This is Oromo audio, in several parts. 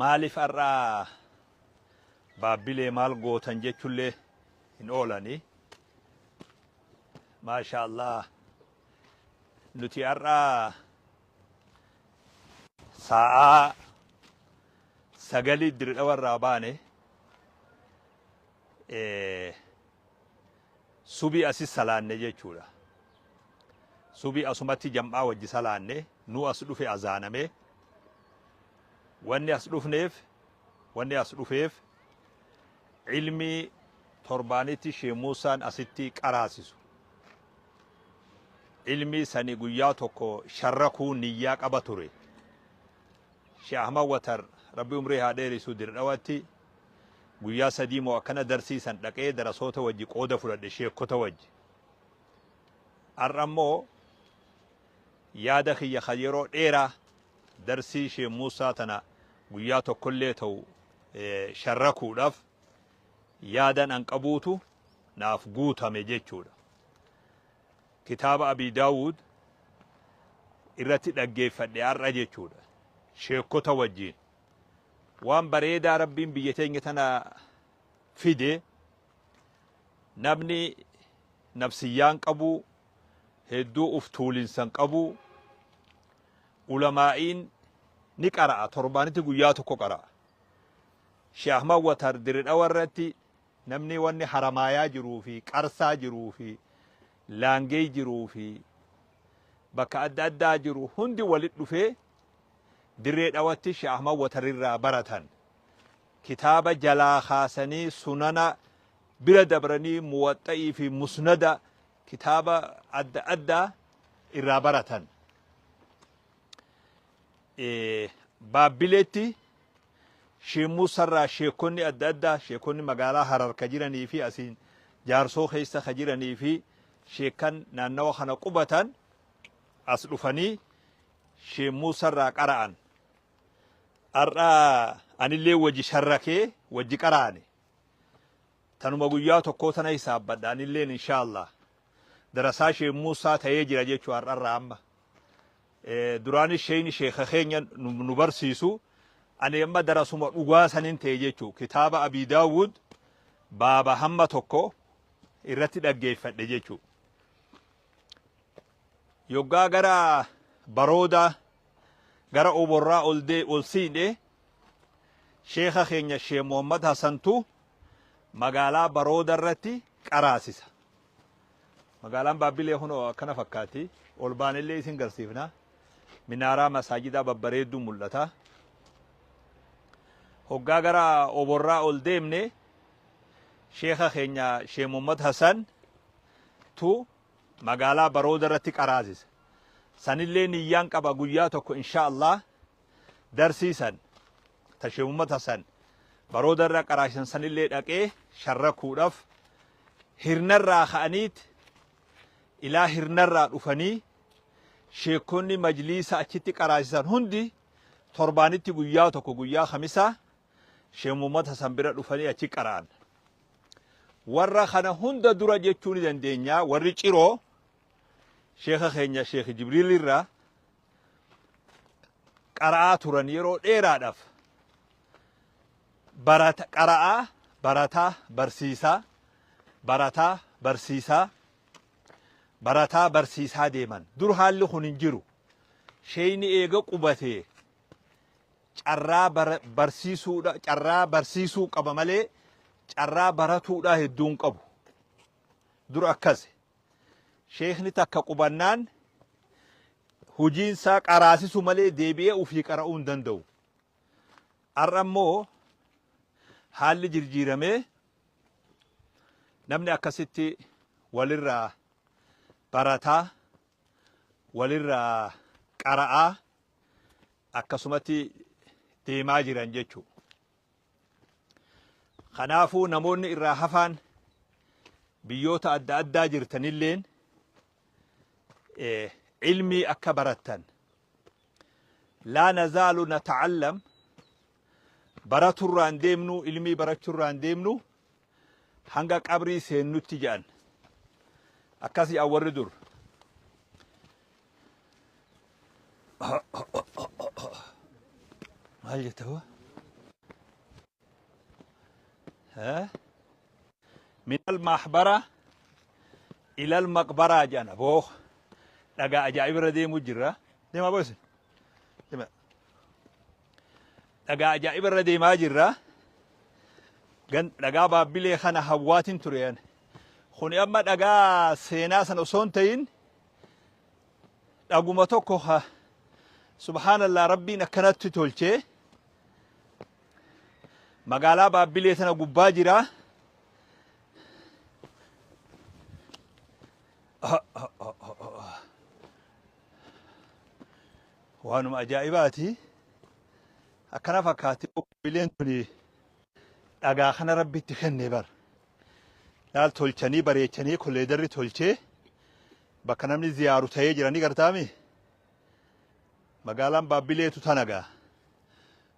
Maalif har'a baabbilee maal gootan jechullee hin oolani. Maashaa Allah nuti har'a saa'aa sagalii diridhawa irraa baane. Subii asi salaanne jechuudha. Subii asumatti jam'aa wajji salaanne nuu as dhufe azaaname. Wanni as dhufneef wanni as dhufeef ilmii torbaanitti Shee Muusaan asitti qaraasisu. Ilmii sani guyyaa tokko sharrakuu niyyaa qaba ture. Shee Ahmad Watar rabbi umrii haa dheerisu dirdhawatti Guyyaa sadii moo akkana darsiisan dhaqee darasoota wajji qooda fudhadhe sheekkota wajji. Har'a immoo yaada kiyya kan yeroo dheeraa darsii Sheek Muusaa tana guyyaa tokkollee ta'u sharrakuudhaaf yaadan an qabuutu naaf guutame jechuudha. Kitaaba Abii Daawud irratti dhaggeeffadhe har'a jechuudha. Sheekkota wajjiin. Waan bareedaa rabbiin biyya teenya tana fide namni nabsiyyaan qabu hedduu uf tuulinsan qabu ulamaa'iin ni qara'a torbaanitti guyyaa tokko qara'a Sheikh Ahmad Watar diridhawa irratti namni wanni haramaayaa jiruu fi qarsaa jiruu fi laangee jiruu fi bakka adda addaa jiru hundi walit dhufee Dirree Dhawatti Sheikh Ahmad Watar irraa baratan. Kitaaba jalaa kaasanii sunana bira dabranii muwaxxa'ii fi musnada kitaaba adda addaa irraa baratan. Baabbileetti Sheikh Muusaa irraa sheekonni adda addaa sheekonni magaalaa Harar ka jiranii fi asiin jaarsoo keessa ka jiranii fi sheekan naannawa kana qubatan as dhufanii Shee Muusa irraa qara'an. Har'a anillee wajji sharrakee wajji qara'ane. Tanuma guyyaa tokkoo tana hisaabbadha anilleen inshaallah. Darasaa Shee Muusaa ta'ee jira jechuu har'arraa amma. Duraanis sheeyni sheeka keenya nu barsiisu ani amma darasuma dhugaa sanin ta'e jechuu kitaaba Abii Daawud baaba hamma tokko irratti dhaggeeffadhe jechuu. yoggaa gara baroodaa gara oborraa ol dee ol siidhe sheekha keenya shee Muhammad Hasantu magaalaa barooda irratti qaraasisa. Magaalaan Baabbilee kunoo akkana fakkaatti. Ol baanellee isin garsiifna. Minaaraa masaajidaa babbareedduu mul'ata. Hoggaa gara oborraa ol deemne sheekha keenya shee Muhammad Hasan tu magaalaa barooda irratti qaraasisa sanillee niyyaan qaba guyyaa tokko inshaa allah darsii san ta sheekh muhammad hasan barooda irra qaraasisan sanillee dhaqee sharrakuudhaf hirnarraa ka'aniit ilaa hirnarraa dhufanii sheekonni majliisa achitti qaraasisan hundi torbaanitti guyyaa tokko guyyaa kamisaa sheekh muhammad hasan bira dhufanii achi qara'an Warra kana hunda dura jechuu ni dandeenya warri ciroo sheeka keenya sheeki Jibriil irra qara'aa turan yeroo dheeraadhaaf barata qara'aa barataa barsiisaa barataa barsiisaa barataa barsiisaa deeman dur haalli kun hin jiru sheeyni eega qubatee carraa bara barsiisuudha carraa barsiisuu qaba malee carraa baratuudhaa hedduu hin qabu dura akkasi sheekni takka qubannaan hojiin isaa qaraasisu malee deebi'ee ofii qara'uu hin danda'u har'a immoo haalli jirjiiramee namni akkasitti walirraa barataa walirraa qara'aa akkasumatti deemaa jiran jechuu kanaafuu namoonni irraa hafaan biyyoota adda addaa jirtanilleen ilmii akka barattan laa nazaalu natacallam baraturraan deemnu ilmii barachurraan deemnu hanga qabrii seennutti jedhan akkas jedhan warri dur maal jetta hoo? Eh? min almahbara ila almaqbaraa jedhan aboo dhagaa ajaa'ibirra deemuu jirra deemaa boosin dhagaa ajaa'iba irra deemaa jirra. Dhagaa baabbilee kana hawwaatiin tureen. Kuni amma dhagaa seenaa sana osoo hin ta'in dhaguma tokko ha subhaanallaa rabbiin akkanatti tolchee magaalaa baabbilee sana gubbaa jira. waanuma ajaa'ibaati akkana fakkaatti qophiileen tuni dhagaa kana rabbitti kenne bar laal tolchanii bareechanii kolleedarri tolchee bakka namni ziyaaru ta'ee jiranii gartaami magaalaan baabbileetu tanagaa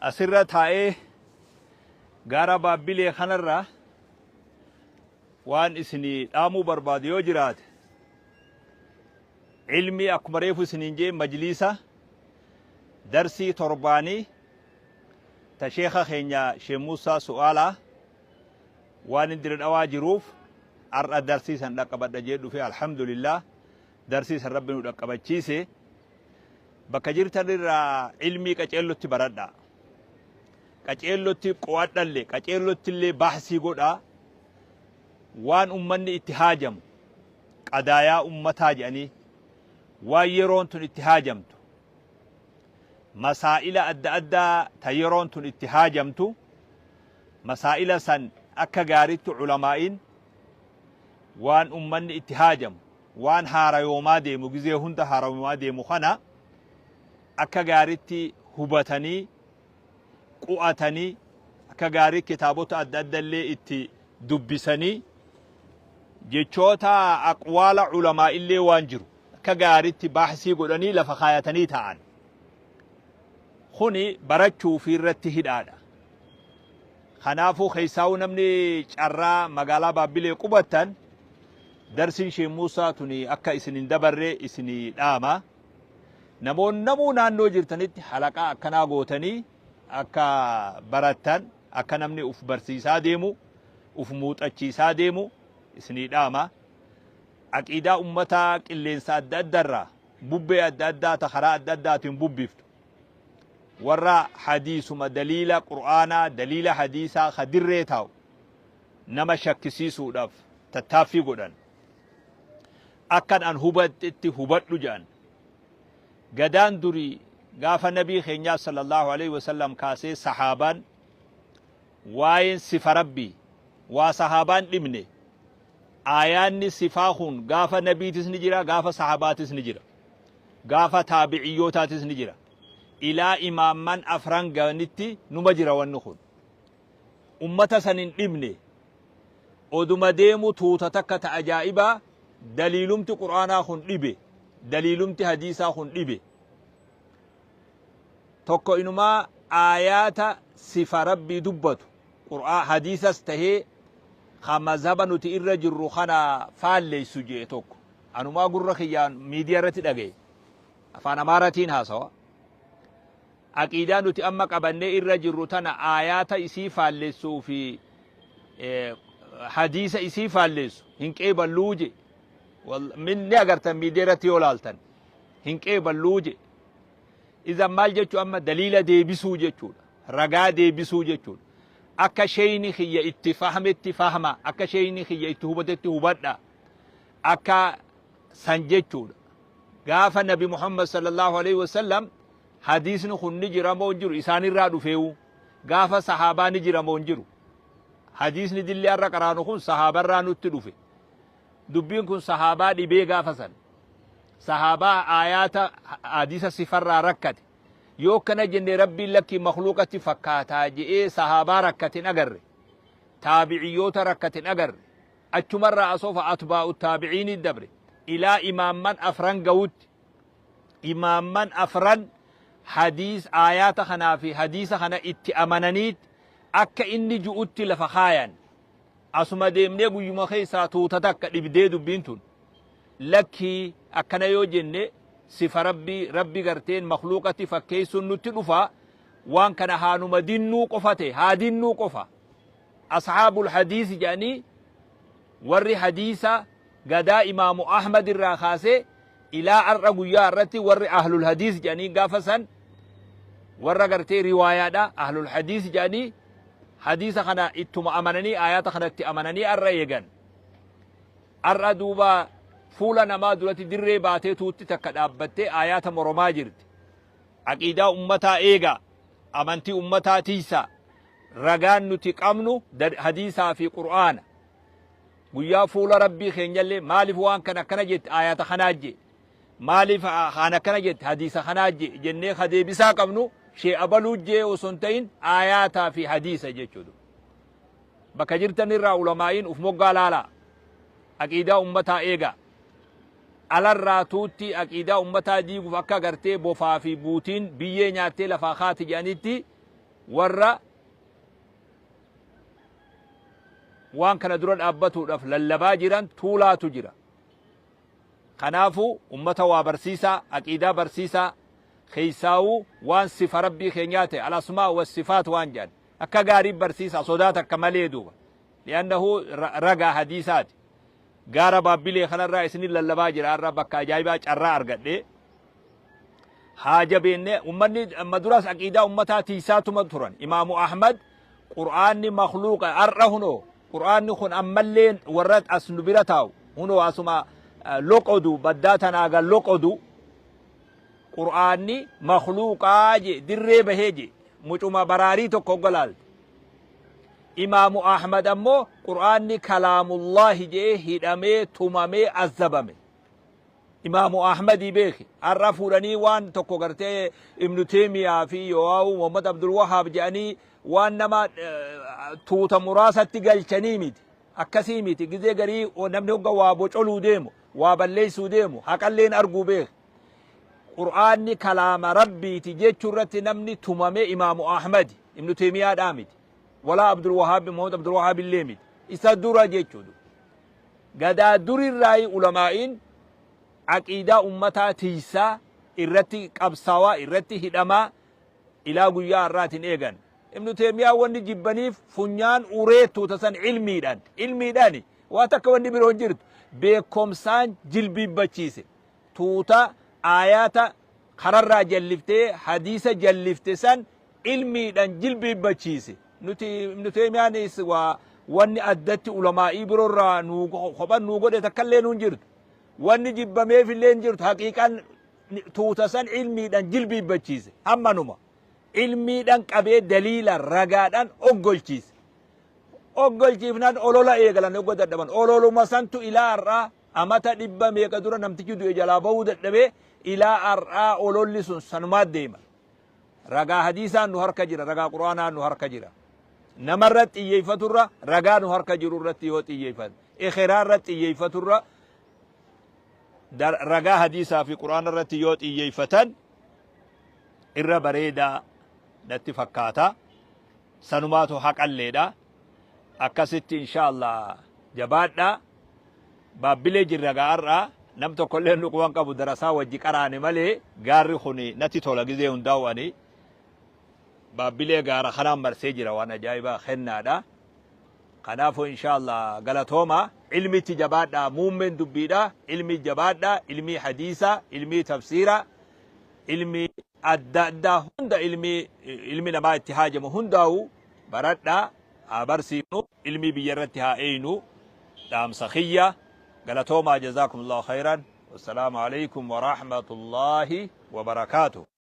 Asirra taa'ee gaara Baabbilee kanarra waan isinii dhaamuu barbaadu yoo jiraate ilmii akkuma reefu isiniin jee majliisa darsii torbaanii ta sheeka keenya Sheekh Muusaa Su'aalaa waan hin diridhawaa jiruuf har'a darsii san dhaqqabadha jee dhufe alhamdulillah Darsii san Rabbi nu dhaqqabachiise bakka jirtan irraa ilmii qaceellotti baradhaa. Qaceellotti qo'adhallee qaceellotti illee baasii godhaa waan ummanni itti haajamu qadaayaa ummataa jedhanii waan yeroon tun itti haajamtu masaa'ila adda addaa ta yeroon tun itti haajamtu masaa'ila san akka gaariitti culamaa'iin waan ummanni itti haajamu waan haarayoomaa deemu, gizee hunda haarayoomaa deemu kana akka gaariitti hubatanii, qu'atanii, akka gaarii kitaabota adda adda illee itti dubbisanii, jechoota aqwaala ulamaa illee waan jiru akka gaariitti baahsii godhanii lafa kaayatanii taa'an. Kuni barachuu fi irratti hidhaadha. Kanaafuu keessaawuu namni carraa magaalaa Baabbilee qubattan darsiin Sheek Muusaa tuni akka isin hin dabarre isinii dhaama. Namoonni namuu naannoo jirtanitti halaqaa akkanaa gootanii akka barattan akka namni uf barsiisaa deemu uf muuxachiisaa deemu isinii dhaama. Aqiidaa ummataa qilleensa adda addarraa bubbee adda addaa ta karaa adda addaatiin bubbiftu Warra hadiisuma daliila Qur'aanaa, daliila hadiisaa ka dirree taa'u nama shakkisiisuudhaaf tattaaffii godhan. Akkan an hubadhetti hubadhu jedhan. Gadaan durii gaafa nabii keenyaa sallallahu alaihi wasallam kaasee sahaabaan waa'een sifa rabbii waa sahaabaan dhimne aayaanni sifaa kun gaafa nabiitis ni jira gaafa sahaabaatis ni jira. Gaafa taabi'iyyootaatis ni jira. Ilaa imaamman afran ga'anitti numa jira wanni kun. Ummata san hin dhibne. Oduma deemu tuuta takka ta ajaa'ibaa daliilumti Qur'aanaa kun dhibe, daliilumti hadiisaa kun dhibe. Tokko inumaa aayaata sifa Rabbii dubbatu Qur'aa hadiisas tahee ka mazhaba nuti irra jirru kana faalleysu je'e tokko. Anumaa gurra kiyyaan miidiyaa irratti dhagaye. Afaan Amaaratiin haasawa. Aqiidaa nuti amma qabannee irra jirru tana aayaata isii faallessuu fi hadiisa isii faalleessu hin qeeballuu je. Ni agartan miidiyaa irratti yoo laaltan hin qeeballuu je. Izan maal jechuu amma daliila deebisuu jechuudha. Ragaa deebisuu jechuudha. Akka sheeyni kiyya itti fahmetti fahma. Akka sheeyni kiyya itti hubatetti hubadha. Akka San jechuudha. Gaafa Nabi Muhammad sallallahu aleyhi wa sallam hadiisni kun ni jira moo hin jiru isaanirraa dhufeewu gaafa sahaabaa ni jira moo hin jiru. Hadiisni dilli har'a qaraanu kun sahaabarraa nutti dhufe. Dubbiin kun sahaabaa dhibee gaafa san. Sahaabaa aayaata hadiisa sifarraa rakkate. Yoo akkana jenne rabbiin lakkii makluuqatti fakkaataa je'ee sahaabaa rakkatin agarre. Taabiciyyoota rakkatin agarre. Achumarraa asofa atbaa'u taabi'iinii dabre ilaa imaamman afran gawutti imaamman afran hadiis aayaata kanaa fi hadiisa kana itti amananiit akka inni ju'utti lafa kaayan. Asuma deemnee guyyuma keessaa tuuta takka dhibdee dubbiin tun. Lakkii akkana yoo jenne sifa Rabbii, Rabbi garteen makhluuqatti fakkeessuun nutti dhufa, waan kana haanuma dinnuu qofa ta'e, haa dinnuu qofa. Ashaabul hadiisi jedhanii warri hadiisa gadaa imaamu Ahmad irraa kaasee ilaa ar'a guyyaa har'atti warri ahlul hadiis jedhanii gaafa san warra gartee riwaayaadha ahlul hadiis jedhanii hadiisa kana ittuma amananii aayaata kanatti amananii ar'a eegan. Ar'a duuba fuula namaa duratti dirree baatee tuutti takka dhaabbattee aayaata moromaa jirti. Aqiidaa ummataa eegaa, amantii ummataa tiisaa, ragaan nuti qabnu hadiisaa fi qur'aana guyyaa fuula rabbii keenyallee maaliif waan kana akkana jette ayata kanaa jee maaliif kaan akkana jette hadiisa kanaa jee jennee ka deebisaa qabnu shee abaluu jee osoo hin ta'in ayataa fi hadiisa jechuudha bakka jirtan irraa ulamaa'iin uf moggaa laalaa aqiidaa ummataa eegaa alarraa tuutti aqiidaa ummataa diiguuf akka gartee bofaa fi buutiin biyyee nyaattee lafaa kaati jedhanitti Warra waan kana dura dhaabbatuudhaaf lallabaa jiran tuulaatu jira. Kanaafuu ummata waa barsiisaa, aqiidaa barsiisaa, keessaawuu waan sifa Rabbii keenyaa ta'e, al-asmaa wa sifaat waan jedhan, akka gaarii barsiisaa, sodaa takka malee duuba. Li'annahu ragaa hadiisaati. Gaara Baabbilee kanarraa isiniin lallabaa jira har'a bakka ajaa'ibaa carraa argadhee. haa jabeennee ummanni amma duras aqiidaa ummataa tiisaa tuma turan imaamu ahmad qur'aanni makluuqa har'a hunoo qur'aanni kun ammallee warra as nu bira taa'u hunoo asuma eh, loqodu baddaa tanaaga loqodu qur'aanni makluuqaa je dirree bahee je mucuma baraarii tokko oggalaalte imaamu ahmad ammoo qur'aanni kalaamullaahi jee hidhamee tumamee azzabame Imaamu Ahmadii beeki. Har'a fuudhanii waan tokko gartee Ibnu Teemiyaa fi Yoo'aawuu Muhammad Abdul Wahaab jedhanii waan nama tuuta muraasatti galchanii miti. Akkasii miti. Gizee garii namni hogga waa bocoluu deemu, waa balleessuu deemu, haqalleen arguu beeki. Qur'aanni kalaama Rabbiiti jechuu irratti namni tumame Imaamu Ahmadi. Ibnu Teemiyaadhaa miti. Walaa Abdul Wahaab Muhammad Abdul Wahaab illee miti. Isa dura jechuudha. Gadaa durirraayi ulamaa'iin aqiidaa ummataa tiysaa irratti qabsaawaa irratti hidhamaa ilaa guyyaa har'aatin eegan. Ibnu Teymiyaan wanni jibbaniif funyaan uree tuuta san ilmiidhan. Ilmiidhani waa takka wanni biroo hin jirtu. Beekkomsaan jilbiibbachiise. Tuuta aayaata kararraa jalliftee hadiisa jallifte san ilmiidhan jilbiibbachiise. Nuti Ibnu Teymiyaanis waa wanni addatti ulamaa'ii birorraa nuu kophan nuu godhe takkallee nuun jirtu. Wanni jibbameefillee hin jirtu. Haqiiqan tuuta san ilmiidhan jilbiibbachiise. Hammanuma. Ilmiidhan qabee daliila ragaadhan oggolchiise. Oggolchiifnan olola eegalan ogga dadhaban. Ololuma santu ilaa har'aa amata dhibba meeqa dura namtichi du'e jalaa bahuu dadhabee ilaa har'aa ololli sun sanumaa deema. Ragaa hadiisaa nu harka jira, ragaa quraanaa nu harka jira. Nama irratti xiyyeeffatu irra ragaa nu harka jiru irratti yoo xiyyeeffatu, ekeraa irratti xiyyeeffatu irra ragaa hadiisaa fi quraana irratti yoo xiyyeeffatan irra bareedaa natti fakkaata. Sanumaatu haqalleedha. akkasitti inshaa Allah jabaadhaa baabbilee jirra gaa har'aa nam tokkollee nu quban qabu darasaa wajji qaraane malee gaarri kun natti tola gizee hundaa'u ani baabbilee gaara kanaan marsee jira waan ajaa'ibaa kennaadha kanaafuu inshaa Allah galatooma ilmitti jabaadhaa muummeen dubbiidha ilmii jabaadhaa ilmii hadiisaa ilmii tafsiiraa ilmii adda addaa hunda ilmi ilmi namaa itti haajamu hundaa'u baradhaa haa barsiifnu ilmii biyya irratti haa eeynu dhaamsa kiyya galatoomaa jazaakumullahu khayran wassalaamu alaykum warahmatullaahi wabarakaatuh